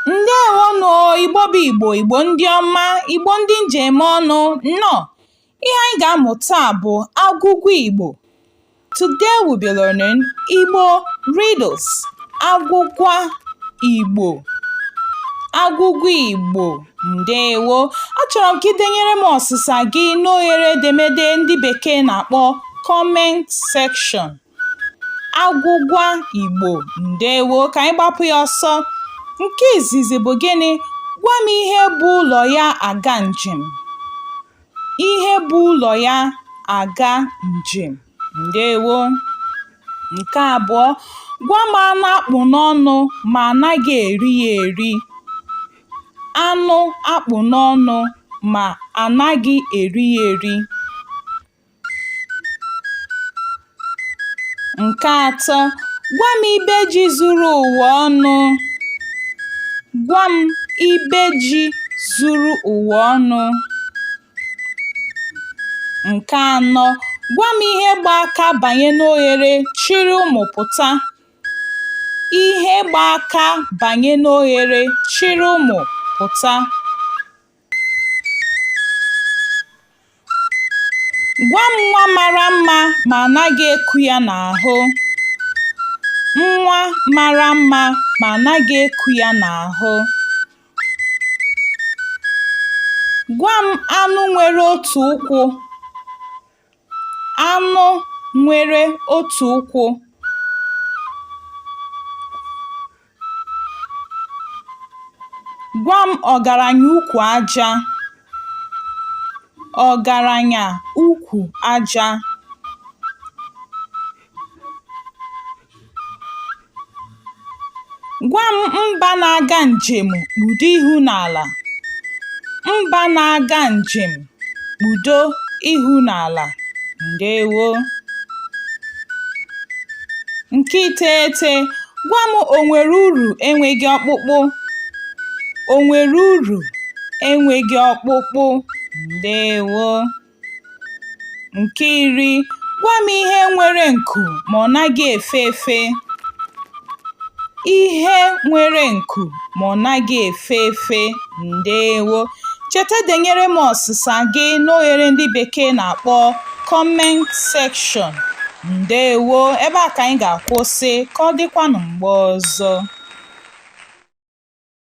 ndewonụ igbo bụ igbo igbo ndị ọma igbo ndị m ji eme ọnụ nnọọ Ihe anyị ga-amụ taa bụ agwụgwa Igbo. Today we'll be learning Igbo riddles. Agwụgwa Igbo. Agwụgwa Igbo. Ndewo. Achọrọ m ka ị denyere m ọsịsa gị n'oghere edemede ndị bekee na-akpọ comment section. agwụgwa Igbo ndewo ka anyị gbapụ ya ọsọ nke izizi bụ gịnị gwa m ihe bu ụlọ ya aga njem ihe bu ụlọ ya aga njem ndewo nke abụọ gwa m anụ a kpụ n'ọnụ ma anaghị eri ya eri anụ a kpụ n'ọnụ ma anaghị eri ya eri Nke atọ, gwa m ibe ji zuru ụwa ọnụ. Gwa m ibe ji zuru ụwa ọnụ. Nke anọ, gwa m ihe gba aka banye n'oghere chịrị ụmụ pụta. Ihe gba aka banye n'oghere chịrị ụmụ pụta. Gwa m nwa mara mma ma anaghị eku ya n'ahụ. Nwa mara mma ma anaghị eku ya n'ahụ. Gwa m anụ nwere otu ụkwụ Anụ nwere otu ụkwụ. Gwa m ọgaranya ukwu aja. Ọgaranya ukwu aja. Gwa m mba na-aga njem kpudo ihu n'ala. Mba na-aga njem kpudo ihu n'ala. Ndewo. Nke iteghete, gwa m o nwere uru enweghị ọkpụkpụ? O nwere uru enweghị ọkpụkpụ? Ndewo. Nke iri, gwa m ihe nwere nku ma ọ naghị efe efe. Ihe nwere nku ma ọ naghị efe efe. Ndewo. Cheta denyere m ọsịsa gị n'oghere ndị bekee na-akpọ comment section. Ndewo. Ebe a ka anyị ga-akwụsị. Ka ọ dịkwanụ mgbe ọzọ.